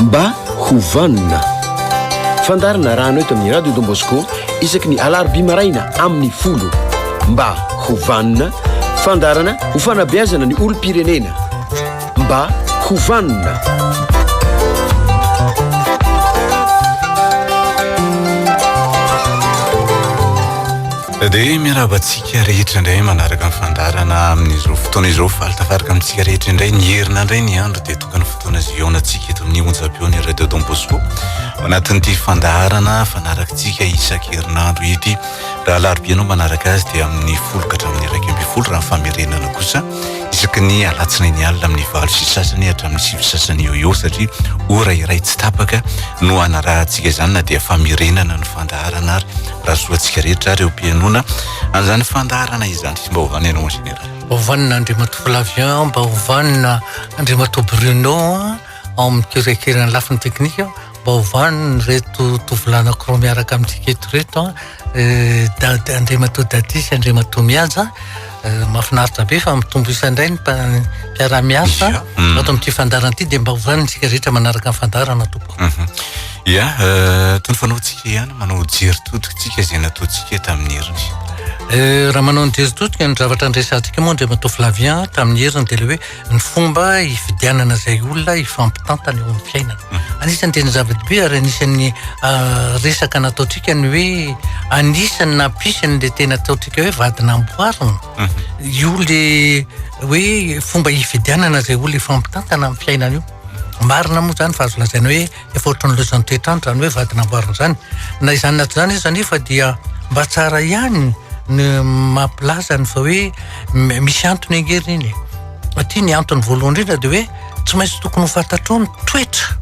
Mba ho vanona. Fandarina rano eto amin'ny Radio Don Bosco isaky ny alarobia maraina amin'ny folo. Mba ho vanona, fandarana ho fanabeazana ny olom-pirenena. Mba ho vanona. Dia miarahaba antsika rehetra indray manaraka ny fandaharana amin'izao fotoana izao faly tafaraka amintsika rehetra indray ny herina indray ny andro dia tokana fotoana ziaonantsika eto amin'ny onjam-peon'ny Radio Don Bosco ao anatin'ity fandaharana fanarakitsika isan-kerinandro ity raha alarobia ianao manaraka azy dia amin'ny folo ka hatramin'ny iraika ambin'ny folo raha ny famerenana kosa isaky ny alatsinainy alina amin'ny valo sy sasany hatramin'ny sivy sasany eo eo satria ora iray tsy tapaka no hanarahantsika izany na dia famirenana ny fandaharana ary raha soa antsika rehetra ireo mpianona an'izany fandaharana izany sy mba hovana ianao en général. Ovanina Andriamatoa Flavien, mba ovanina Andriamatoa Bruno ao amin'ny kirekiran'ny lafiny teknika. Baovaniny reto tovolahinakirao miaraka amintsika eto reto an eh, dady andriamatoa dady sy andriamatoa mihaja eh, mafinaritra be fa mitombo isa indray ny mpiara-miasa mm. ato amin'ity fandarana ity dia mba hovanintsika rehetra manaraka ny fandarana tompoko mhm. ya eh, tony fanaontsika ihany manao jery totikatsika izay nataontsika tamin'ny heriny raha manao ny jery totika ny zavatra andresantsika moa andriamatoa flavien tamin'ny heriny dia le hoe ny fomba hifidianana izay olona hifampitantana eo amin'ny fiainana mhm. anisan'ny tena zava-dehibe ary anisan'ny ah, resaka nataontsika ny hoe anisan'ny nampisy an'la tena ataontsika hoe vadinamboarina mhm. io le hoe fomba hifidianana izay olona hifampitantana amin'ny fiainana io marina moa zany fa azo lazaina hoe efa ohatran'ny loizan'ny toetrandro izany hoe vady namboarina izany na izany na tsy izany izy anefa dia mba tsara ihany ny mampilaza ny fa hoe misy antony angery iny aty ny antony voalohany indrindra dia hoe tsy maintsy tokony ho fantatrao ny toetra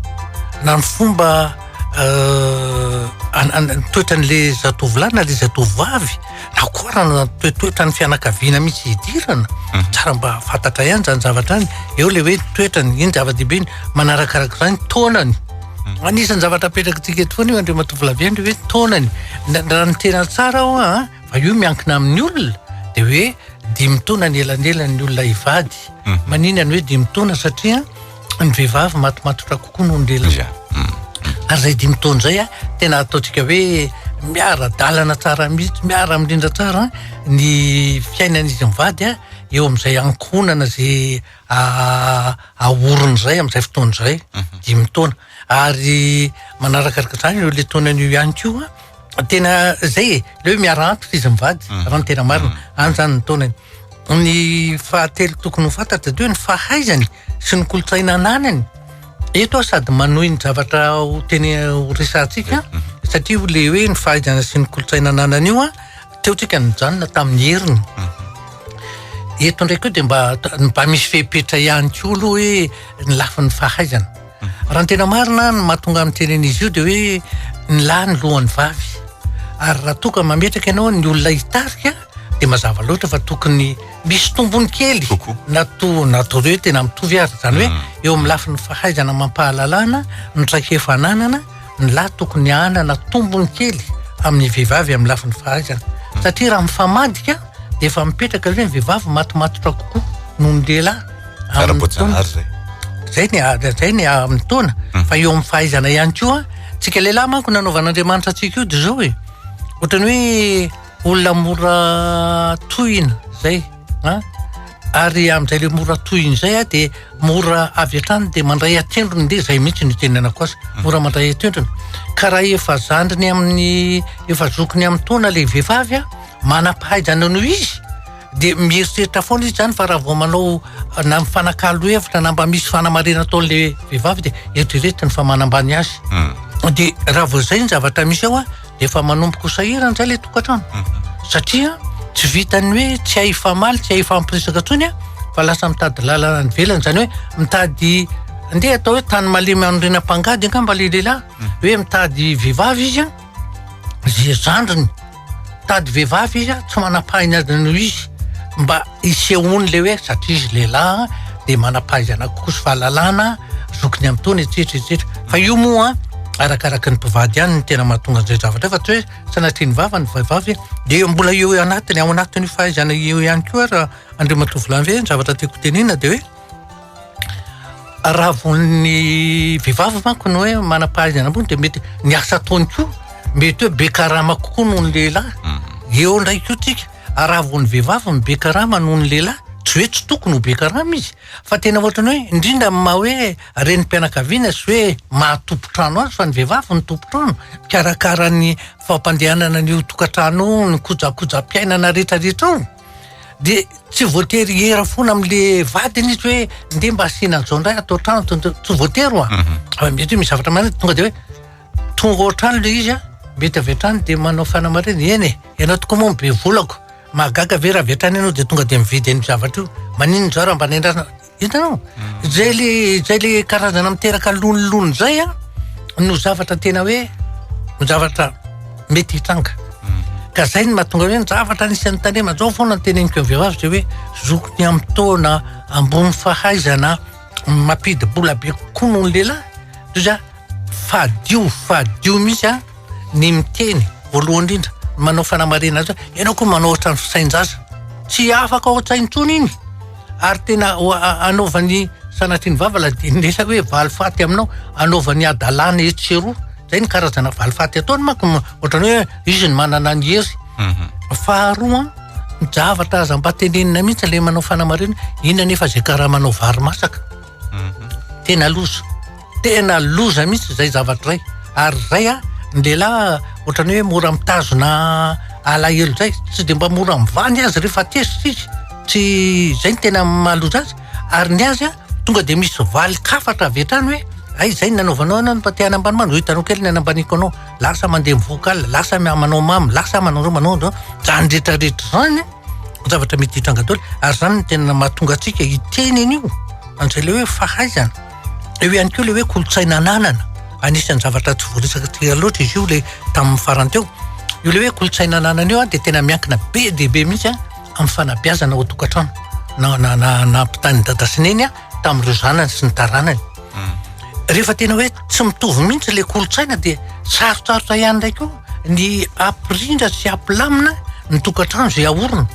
na ny fomba euh, toetran'le zatovolahy na le zatovovavy takorana toetoetra ny fianakaviana mihitsy hidirana mhm. tsara mba fantatra ihany zany zavatra any eo le hoe toetrany iny zava-dehibe ny manarakaraka zany taonany mhm. anisan'ny zavatra apetrakantsika eto foana io andreo matovolave ndre hoe taonany raha ny tena tsara ao a ah, fa io miankina amin'ny olona de hoe dimitaona ny elanelany olona hivady mhm. maninany hoe dimitaona satria ny vehivavy matomatotra kokoa noho ny lehilahy Za, mm. ary zay dimy taona zay a tena ataontsika hoe miara dalana tsara mihitsy miara mirindra tsara ny fiainan'izy mivady a eo am'izay ankohonana ze a- ahorony zay am'izay fotoana zay mhm. dimy taona ary manarakaaraka zany eo le taonan'io ihany ko a tena zay e le hoe miara antitra izy mivady mhm. raha ny tena marina mhm. any zany ny taonany ny fahatelo tokony ho fantatra dia hoe ny fahaizany sy ny kolontsaina ananany eto aho sady manohy ny zavatra ho teny ho resantsika satria ho le hoe ny fahaizana sy ny kolontsaina ananany io a teotsika nijanona tamin'ny heriny eto ndraiky eo dia mba mba misy fepetra ihany koa aloha hoe ny lafiny fahaizana Raha ny tena marina, ny mahatonga ny teny an'izy io dia hoe ny lahy ny lohan'ny vavy. Ary raha toa ka mametraka ianao ny olona hitarika dia mazava loatra fa tokony misy tombony kely na toa na ataovy hoe tena mitovy ary. Izany hoe eo amin'ny lafiny fahaizana amam-pahalalana, ny traikefa ananana, Ny lahy tokony hanana tombony kely amin'ny vehivavy amin'ny lafiny fahaizana. Satria raha mifamadika dia efa mipetraka izay ny vehivavy matomatotra kokoa noho ny lehilahy. Ara-boajanahary izay. Zay ny zay ny amin'ny taona hmm. fa eo amin'ny fahaizana ihany koa tsika lehilahy manko nanaovan'Andriamanitra antsika io de zao e ohatrany hoe olona mora tohina zay Ary amin'izay ilay mora tohiny izay aho dia mora avy hatrany dia mandray an-tsendriny dia izay mihitsy no itenenako azy. Hmm. Mora mandray an-tsendriny. Ka raha efa zandriny amin'ny efa zokiny amin'ny taona ilay vehivavy a, manam-pahaizana noho izy dia mieritreritra foana izy zany fa raha vao manao na mifanakalo hevitra na mba misy fanamarihana ataon'ilay vehivavy dia eritreretiny fa manambany azy. Hmm. Dia raha vao izay ny zavatra misy ao a, dia efa manomboka ho sahirana izay ilay tokantrano satria tsy vitan'ny hoe tsy hay hifamaly tsy hay hifampiresaka intsony a fa lasa mitady lalana any ivelany izany hoe mitady andeha atao hoe tany malemy anorenam-pangady angamba ilay lehilahy hoe mitady vehivavy izy a izay zandriny mitady vehivavy izy a tsy manam-pahiny azy noho izy mba Isehoany le hoe satria izy lehilahy dia manam-pahaizana kokoa sy fahalalana zokiny amin'itony etsetra etsetra. Fa io moa arakaraka ny mpivady ihany no tena mahatonga an'izay zavatra fa tsy hoe sanatria ny vava ny vehivavy dia mbola eo anatiny ao anatin'io fahaizana io ihany koa ary Andriamatoa Volaimbe ny zavatra tiako hotenenina dia hoe raha vao ny vehivavy manko no hoe manam-pahaizana ambony dia mety ny asa ataony koa mety hoe be karama kokoa noho ny lehilahy. Eo indray koa tsika. Raha vao ny vehivavy no be karama noho ny lehilahy, tsy hoe tsy tokony ho be karama izy, fa tena ohatran'ny hoe indrindra amin'ny maha hoe renim-pianakaviana sy hoe maha tompon-trano azy, fa ny vehivavy no tompon-trano, mikarakara ny fampandehanana ny io tokantrano io, ny kojakojam-piainana rehetrarehetra ao, dia tsy voatery hiera foana amin'le vadiny izy hoe ndeha mba asiana an'izao indray ato an-trano, tsy voatery hoa, mety hoe misy zavatra mandeha tonga dia hoe. Tonga ao an-trano ilay izy an, mety avy hatrany dia manao fanamarihana, eny e, ianao tokoa moa no be volako, mahagaga ve raha avy hatrany ianao dia tonga dia mividy an'io zavatra io, maninona izao raha mba nendrana, hitanao? Izay ilay izay ilay karazana miteraka lonilony izay an, no zavatra tena hoe ny zavatra mety hitranga. Ka izay no mahatonga hoe ny zavatra anisan'ny tandrema izao foana ny teneniko amin'ny vehivavy dia hoe zoky ny amin'ny taona ambony fahaizana, Mapidi bola be kokoa noho ny lehilahy toy izay fadio fadio mihitsy an ny miteny voalohany indrindra ny manao fanamarihana azy hoe ianao koa manao ohatran'ny fisain-jaza tsy afaka ao an-tsaina intsony iny ary tena anaovany sanatrian'ny vava ladin'ny lehilahy hoe valifaty aminao anaovany hadalana etsy sy eroa izay ny karazana valifaty ataony manko ohatran'ny hoe izy ny manana ny hery Faharoa, ny zavatra aza mba tenenina mihitsy ilay manao fanamarihana, inona anefa izay karamanao vary masaka? Tena loza, tena loza mihitsy izay zavatra izay. Ary izay an, ny lehilahy ohatran'ny hoe mora mitazona alahelo izay, tsy dia mba mora mivaha ny azy rehefa tezitra izy, tsy izay no tena mahaloza azy. Ary ny azy an, tonga dia misy valin-kafatra avy hatrany hoe hay izay no nanaovanao anao, mba te hanambany, hoy izy, hoy itanao kely ny hanambaniako anao. lasa mandeha mivoaka alina, lasa manao mamy, lasa manao zao manao zao, zany rehetra rehetra zany a, zavatra mety hitranga daholo, ary zany no tena mahatonga antsika hiteny an'io, an'izay le hoe fahaizana, eo ihany koa le hoe kolontsaina ananana, anisan'ny zavatra tsy voaresaka loatra izy io le tamin'ny farany teo, io le hoe kolontsaina ananana io a de tena miankina be dia be mihitsy a amin'ny fanabeazana ao an-tokantrano na na na ampitahain'i dada sy neny a. tamin'ireo zanany sy ny taranany hmm. rehefa tena hoe tsy mitovy mihitsy le kolotsaina dia sarotsarotra ihany ndray koa ny ampirindra sy ampilamina ny tokantrano zay aorina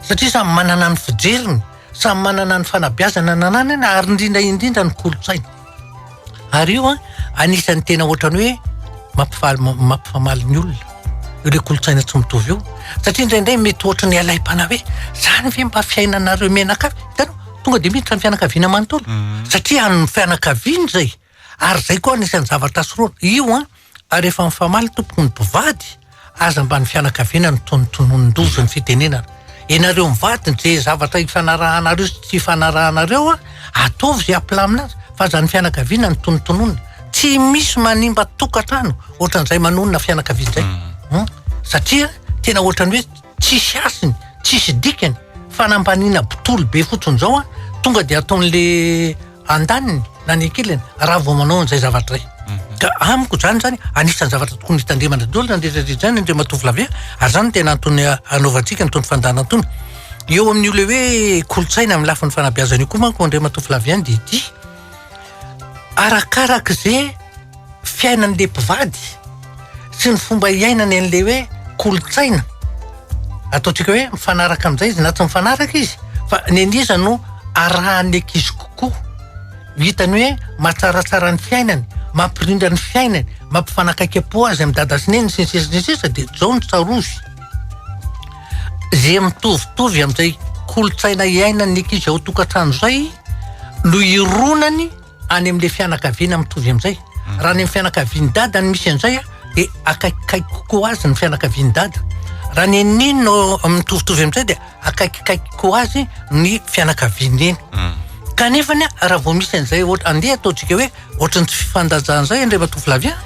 satria samy manana ny fijeriny samy manana ny fanabiazana nananana ary indrindra indrindra ny kolotsaina Ary io an, anisan'ny tena ohatrany hoe mampifaly mampifamaly ny olona io le kolontsaina tsy mitovy io satria indraindray mety ohatry ny alaim-panahy hoe zany ve mba fiainanareo menaka hitanao tonga de miditra ny fianakaviana manontolo satria an'ny fianakaviana izay ary zay koa anisan'ny zavatra sorohana io an Ary efa mifamaly tompoko ny mpivady aza mba ny fianakaviana no tonotononin-doza ny fitenenana. Ianareo mivady nizay zavatra ifanarahanareo sy tsy ifanarahanareo a, ataovy izay hampilamina azy fa aza ny fianakaviana no tonotononina. Tsy misy manimba tokantrano ohatran'izay manonona fianakaviana izay hum satria tena ohatran'ny hoe tsisy hasiny, tsisy dikany, fanambaniana botolo be fotsiny izao a, tonga dia ataon'le andaniny na ny ankilany raha vao manao an'izay zavatra izay. Mhm. Ka amiko izany izany anisan'ny zavatra tokony hitandremana daholo na nderedretra izany indreo matovolavia ary izany tena antony hanaovantsika ny tony fandana antony. Eo amin'io le hoe kolontsaina amin'ny lafiny fanabeazana io koa manko indreo matovolavia dia ity arakaraka izay fiainan'le mpivady sy ny fomba iainany an'le hoe kolontsaina ataontsika hoe mifanaraka amin'izay izy na tsy mifanaraka izy fa ny an'iza no arahan'ny ankizy kokoa hitany hoe mahatsaratsara ny fiainany mampirindra ny fiainany mampifanakaikem-po azy amin'ny dada sy neny sy ny sisa sy ny sisa dia zao ny tsarovy ze mitovitovy amin'izay kolontsaina iainan'ny ankizy ao tokantrano izay no ironany any amin'ilay fianakaviana mitovy amin'izay. Raha any amin'ny fianakavian'ny dada no misy an'izay a, dia akaikikaiky kokoa azy ny fianakavian'ny dada. Raha ny an'ny neny no mitovitovy amin'izay dia akaikikaiky kokoa azy ny fianakavian'ny neny. Kanefa ny a, raha vao misy an'izay ohatra, andeha ataontsika hoe ohatran'ny tsy fifandanjana izay indray matovolahy a,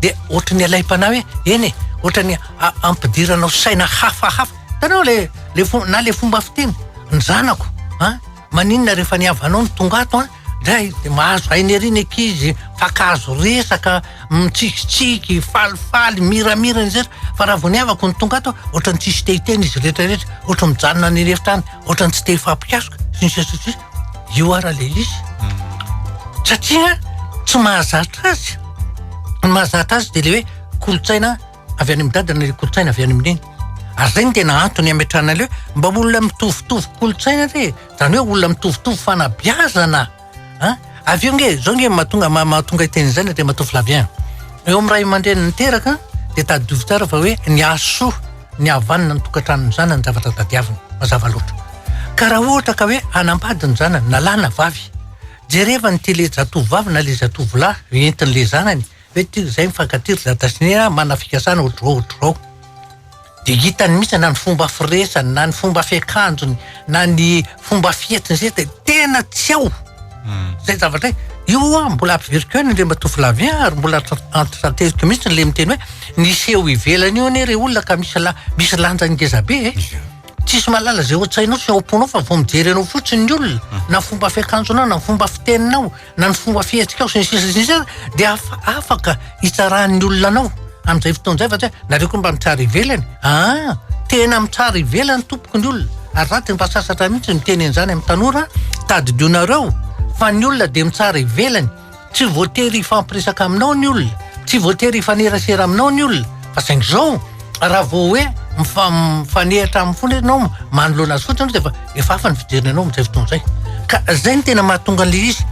dia ohatran'ny alaim-panahy hoe eny e, ohatran'ny a- ampidiranao saina hafahafa. Hitanao le le fo- na le fomba fiteny, ny zanako a, maninona rehefa ny havanao no tonga ato a, Ndray dia mahazo aina ery ny ankizy, mifankahazo resaka, mitsikitsiky, falifaly, miramira ny sisa fa raha vao niavako no tonga ato aho, ohatran'ny tsisy te hiteny izy rehetrarehetra, ohatran'ny mijanona any an'efitra any, ohatran'ny tsy te hifampikasoka, sy ny sisa sy ny sisa. Io ara le izy. Satria tsy mahazatra azy. Ny mahazatra azy dia le hoe kolontsaina avy any amin-dada na le kolontsaina avy any amin-dreniny. Ary zay no tena antony ametrahana le hoe mba olona mitovitovy kolontsaina re e. Zany hoe olona mitovitovy fanabeazana a! Avy eo nge, zao nge mahatonga mahatonga hiteny izay ny Andriamatoa Flavien. Eo amin'ny ray aman-dreny niteraka dia tadidio tsara fa hoe ny hasoa, ny havanana ny tokantranon'ny zanany ny zavatra tadiaviny. Mazava loatra. Ka raha ohatra ka hoe hanambady ny zanany na lahy na vavy, jereva ny tele-jatovovavy na le-zatovolahy entin'le zanany Ve ity izay mifankatia ry Dadasine a, manana fikasana otr'izao otr'izao. Dia hitany mihitsy na ny fomba firesany, na ny fomba fiakanjony, na ny fomba fihetsiny sisa dia tena tsy ao izay zavatra hoe, io ho'a mbola averiko ihany Andriamatoa Flavien ary mbola antitrantehiko mihitsy ilay miteny hoe ny seho ivelany io anie re olona ka misy la- misy lanjany ngeza be e. Tsisy mahalala izay ao an-tsainao sy ao am-ponao fa vao mijery anao fotsiny ny olona, na fomba fiakanjonao, na fomba fiteninao. na ny fomba fihetsikao sy ny sisa sy ny sisa dia afaka hitsarahan'ny olona anao amin'izay fotoana izay fa tsy hoe nareo koa mba mitsara ivelany aa tena mitsara ivelany tompoko ny olona ary za dia mba sasatra mihitsy miteny an'izany amin'ny tanora tadidianareo fa ny olona dia mitsara ivelany tsy voatery hifampiresaka aminao ny olona tsy voatery hifanerasera aminao ny olona Fa saingy izao, raha vao hoe mifa- mifanehatra aminy foana ianao, manoloana azy fotsiny ianao dia efa- efa hafa ny fijeriny anao amin'izay fotoana izay. Ka izay no tena mahatonga an'ilay izy.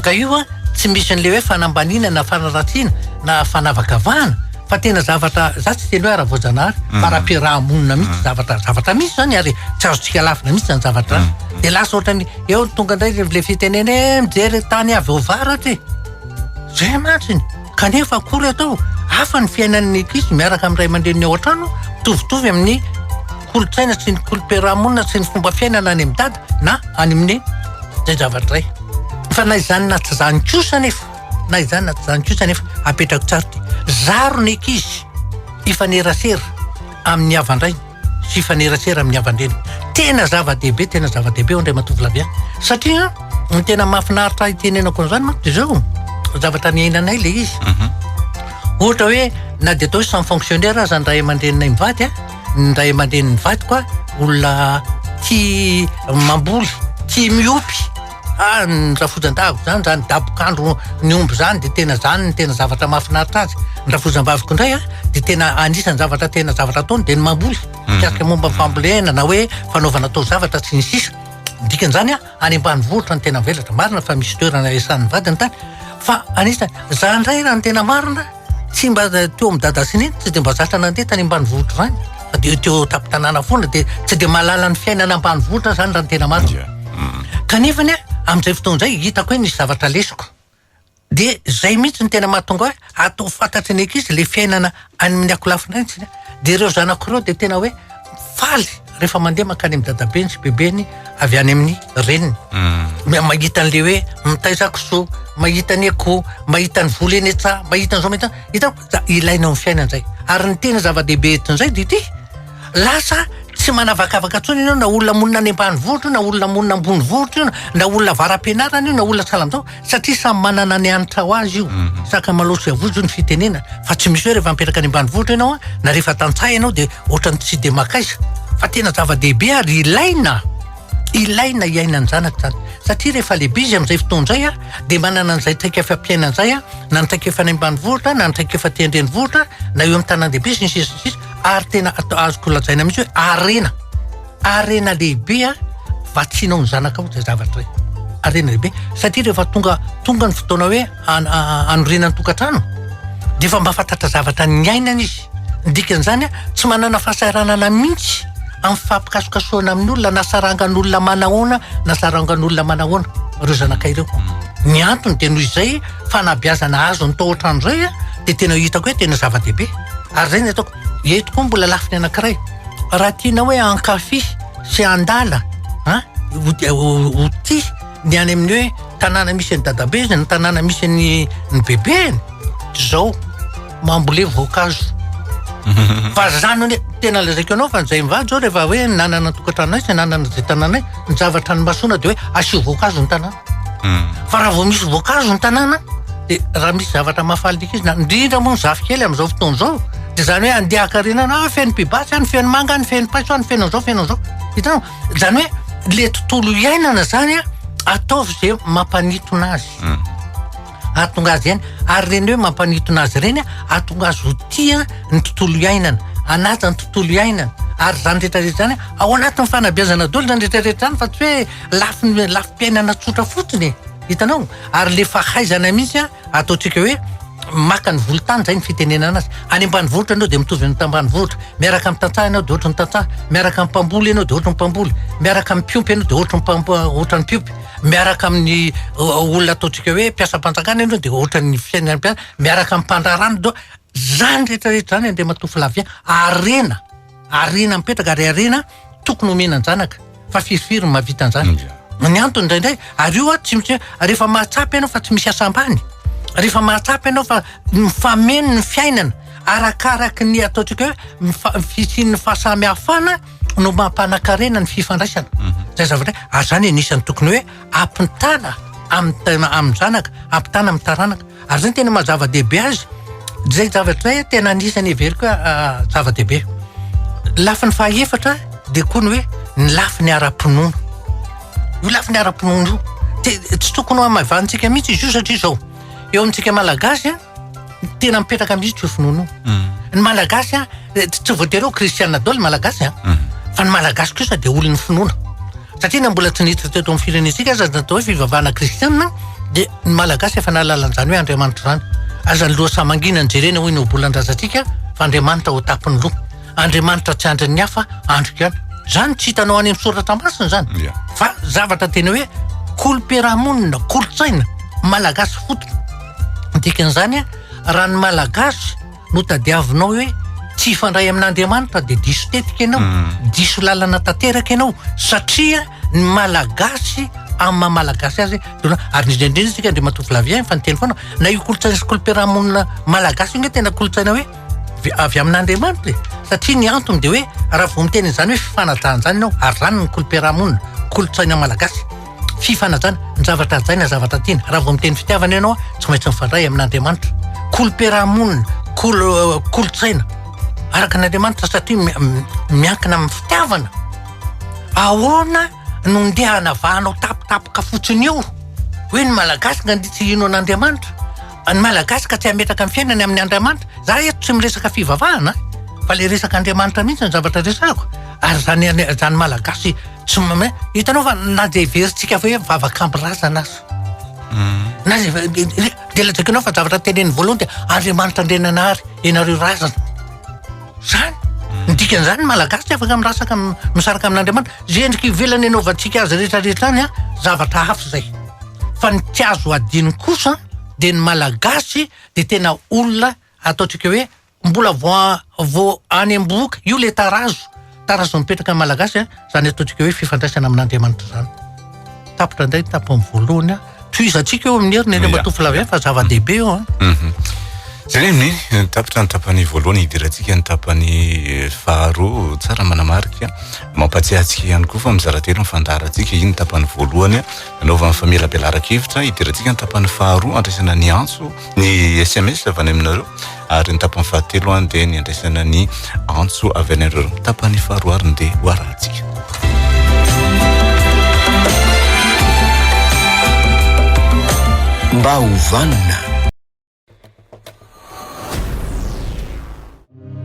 Ka io an, tsy misy an'ilay hoe fanambaniana na fanaratsiana na fanavakavahana fa tena zavatra, za tsy hiteny hoe ara-boajanahary fa ara-piaraha-monina mihitsy zavatra, zavatra misy izany ary tsy azontsika alavina mihitsy izany zavatra izany. Dia lasa ohatran'ny eo tonga indray ilay fitenena hoe eh mijery tany avy ao avaratra e! Izay mantsy. Kanefa akory atao? Hafa ny fiainan'ny ankizy miaraka amin'ny ray aman-dreniny ao an-trano, mitovitovy amin'ny kolontsaina sy ny kolo-piarahamonina sy ny fomba fiainana any amin'ny dada na any amin'ny izay zavatra izay. Fa na izany na tsy izany kosa anefa, na izany na tsy izany kosa anefa, apetrako tsara ity, zaro ny ankizy hifanerasera amin'ny havan-drainy. fifanerasera amin'ny havan-dreny. Tena zava-dehibe, tena zava-dehibe ao indray matovolaby an. Satria ny tena mahafinaritra hitenenako an'izany manko dia izao, zavatra niainanay ilay izy. Mhm. Ohatra hoe na dia atao hoe sans fonctionnaire aza ny ray aman-dreninay mivady an, ny ray aman-drenin'ny vadiko an, olona tia mamboly, tia miompy. Ah, ny rafozan-dava zany, zany dabokandro ny omby zany de tena zany ny tena zavatra mahafinaritra azy. Ny rafozam-baviko indray a, de tena anisan'ny zavatra tena zavatra ataony de ny mamboly. Mhm. Mikasika momba ny fambolena na hoe fanaovana taozavatra sy ny sisa. Ny dikan'izany a, any ambanivohitra no tena mivelatra. Marina fa misy toerana iasan'ny vadiny tany fa anisany, za indray raha ny tena marina, Tsy mba teo amin'ny dada sy neny tsy dia mba zatra nandeha tany ambanivohitra izany fa dia teo an-tampon-tanàna foana dia tsy dia mahalala ny fiainana ambanivohitra izany raha ny tena marina. Kanefa anie amin'izay fotoana izay hitako hoe nisy zavatra lesoko. Dia izay mihitsy no tena mahatonga ahy hatao fantatry ny ankizy ilay fiainana any amin'ny akolafy indray ny tsirairay. Dia ireo zanako ireo dia tena hoe faly. rehefa mandeha mankany amin'ny dadabeny sy bebeny avy any amin'ny reniny hmm. mahita an'le hoe mitaiza kisoa mahita ny akoho mahita ny vola eny etsa mahita an'izao mahita hita da ilaina amin'ny fiaina izay ary ny tena zava-dehibe etin'izay dia ity lasa tsy manavakavaka tsony ianao na olona monina any ambany vohitra io na olona monina ambony vohitra io na olona varam-pianarana io na olona salamtao satria samy manana ny hanitra ho azy io sakamalaho sy avozo ny fitenena fa tsy misy hoe rehefa mipetraka any ambanivohitra ianao a na rehefa tantsaha ianao dia ohatran'ny tsy dia maka aiza fa tena zava-dehibe ary ilaina ilaina hiainan'ny zanaka izany satria rehefa lehibe izy amin'izay fotoana izay a dia manana an'izay traikefa mpiainana izay a na ny traikefa any ambanivohitra na ny traikefa aty an-drenivohitra na eo amin'ny tanàn-dehibe sy ny sisa sy ny sisa ary tena ato- azoko lazaina mihitsy hoe harena Harena lehibe an! vatsianao ny zanakao izay zavatra izay. Harena lehibe satria rehefa tonga tonga ny fotoana hoe hanorenana ny tokantrano dia efa mahafantatra zavatra niainana izy. Ny dikan'izany tsy manana fahasahiranana mihitsy amin'ny fampikasokasohana amin'olona na sarangan'olona manahoana na sarangan'olona manahoana ireo zanakay ireo. Ny antony dia noho izay fanabeazana azony tao an-trano izay dia tena hitako hoe tena zava-dehibe ary izay no ataoko. Eto koa mbola lafiny anankiray, raha tianao hoe hankafy sy handala an, ho tia ny any amin'ny hoe tanàna misy an'i dadabe izy na tanàna misy an'i ny bebeny, izao mambolé voankazo fa zany anie tena lazaiko anao fa izay mivady izao rehefa hoe nanana ny tokantranonay sy nanana izay tanànay, ny zavatra nimasoana dia hoe asio voankazo ny tanàna. Fa raha vao misy voankazo ny tanàna, dia raha misy zavatra mahafaly ny ankizy, na indrindra moa ny zafikely amin'izao fotoana izao, dia izany hoe andeha hakarenana, ah, feno pibasy any, feno manga any, feno paiso any, feno an'izao, feno an'izao. Hitanao? Izany hoe ilay tontolo iainana izany an, ataovy izay mampanintona azy. Hmm. Ahatonga azy ihany. Ary ireny hoe mampanintona azy ireny, ahatonga azy ho tia ny tontolo iainana, hanaja ny tontolo iainana. Ary izany rehetra rehetra izany, ao anatin'ny fanabeazana daholo izany rehetra rehetra izany fa tsy hoe Lafiny lafim-piainana tsotra fotsiny e, hitanao? Ary le fahaizana mihitsy a, ataontsika hoe maka ny volontany zay ny fitenenana azy. Any ambanivohitra ianao dia mitovy amin'ny tambanivohitra, miaraka amin'ny tantsaha ianao dia ohatry ny tantsaha, miaraka amin'ny mpamboly ianao dia ohatry ny mpamboly, miaraka amin'ny mpiompy ianao dia ohatry ny mpamp- ohatry ny mpiompy, miaraka amin'ny o- olona ataontsika hoe mpiasam-panjakana ianao dia ohatry ny fiainan'ny mpiasa, miaraka amin'ny mpandraharaha ianao. Zany rehetra rehetra zany Andriamatoa Flavien, harena. Harena mipetraka ary harena tokony homena an-janaka fa firifiry ny mahavita an'izany. Ny antony indraindray ary io tsy misy rehefa mahatsapa ianao fa tsy misy asa ambany, rehefa mahatsapa ianao fa mifameno ny fiainana arakaraky ny ataontsika hoe mifa- fisian'ny fahasamihafana no mampanan-karena ny fifandraisana. Izay zavatra izay, ary izany anisan'ny tokony hoe. ampitana amin'ny amin-janaka, ampitana amin'ny taranaka. Ary izay no tena maha zava-dehibe azy. Izay zavatra izay tena anisan'ny heveriko hoe zava-dehibe. Ny lafiny fahaefatra dia koa ny hoe ny lafiny ara-pinoana. Io lafiny ara-pinoana io. Dia tsy tokony ho hamaivanintsika mihitsy izy io satria izao. eo amintsika malagasy a tena mipetraka mihitsy io finoana io mm. ny malagasy a eh, tsy voatery ho kristiana dolo ny malagasy a mm. fa ny malagasy kosa dia olon'ny finoana satria na mbola tsy niditra teto amin'ny firenentsika aza natao hoe fivavahana kristiana dia ny malagasy efa nahalalan'izany hoe andriamanitra izany azany loha samangina ny jerena hoy ny obolan-drazantsika fa andriamanitra ho tapon'ny loha Andriamanitra tsy andrin'ny hafa, andriko ihany. Zany tsy hitanao any amin'ny soratra masina zany. Yeah. Fa zavatra tena hoe kolom-piarahamonina, kolontsaina, malagasy fotony. Dikan'izany raha ny malagasy no tadiavinao hoe tsy hifandray amin'Andriamanitra dia diso tetika ianao, mm. diso lalana tanteraka ianao satria ny malagasy amin'ny maha malagasy azy dona ary indrindra isika Andriamatoa Flavien fa niteny foana na io kolontsaina sy kolom-piarahamonina malagasy io nge tena kolontsaina hoe dia avy amin'Andriamanitra e, satria ny antony dia hoe raha vao miteny an'izany hoe fifanajana izany ianao, ary izany ny kolom-piarahamonina, kolontsaina malagasy. Fifanajana, ny zavatra hajaina, ny zavatra tiana. Raha vao miteny fitiavana ianao, tsy maintsy mifandray amin'Andriamanitra. Kolom-piarahamonina, kolo- eh, kolontsaina araka an'Andriamanitra satria mi- mi- miankina amin'ny fitiavana. Ahoana no ndeha hanavahanao tampotampoka fotsiny eo hoe ny malagasy nga dia tsy hino an'Andriamanitra? Fa ny malagasy ka tsy hametraka ny fiainany amin'ny Andriamanitra. Za eto tsy miresaka fivavahana a. Fa le resaka Andriamanitra mihitsy ny zavatra resahako. Ary zany zany malagasy tsy mame hitanao fa na de heverintsika fa hoe mivavak'ampy razana aza. Na de lazaiko anao fa zavatra teneniny voalohany dia Andriamanitra Andriananahary ianareo razana. Zany. Ny dikan'izany ny Malagasy tsy afaka mirasaka am- misaraka amin'Andriamanitra. Izay endrika ivelany anaovantsika azy rehetrarehetra any an, zavatra hafa izay. Fa ny tsy azo adino kosa an, dia ny Malagasy dia tena olona ataontsika hoe mbola vao a- vao any am-bohoka. Io ilay tarazo. Tarazo mipetraka ny Malagasy izany ataontsika hoe fifandraisana amin'Andriamanitra izany. Tapitra indray ny tapany voalohany. Tohizantsika eo amin'ny heriny eny Matoa Flavien fa zava-dehibe io. Mhm. Izay ny eh, tapitra ny tapany voalohany hidirantsika ny tapany eh, faharoa tsara manamarika mampatsiahantsika ihany koa fa mizara telo ny fandaharantsika iny tapany voalohany anaovan'ny famelabelaran-kevitra hidirantsika ny tapany faharoa andraisana ny antso ny sms avy any aminareo ary ny tapany fahatelo any dia ny andraisana ny antso avy any anareo tapany faharoa ary ny dia ho arahantsika mba hovanina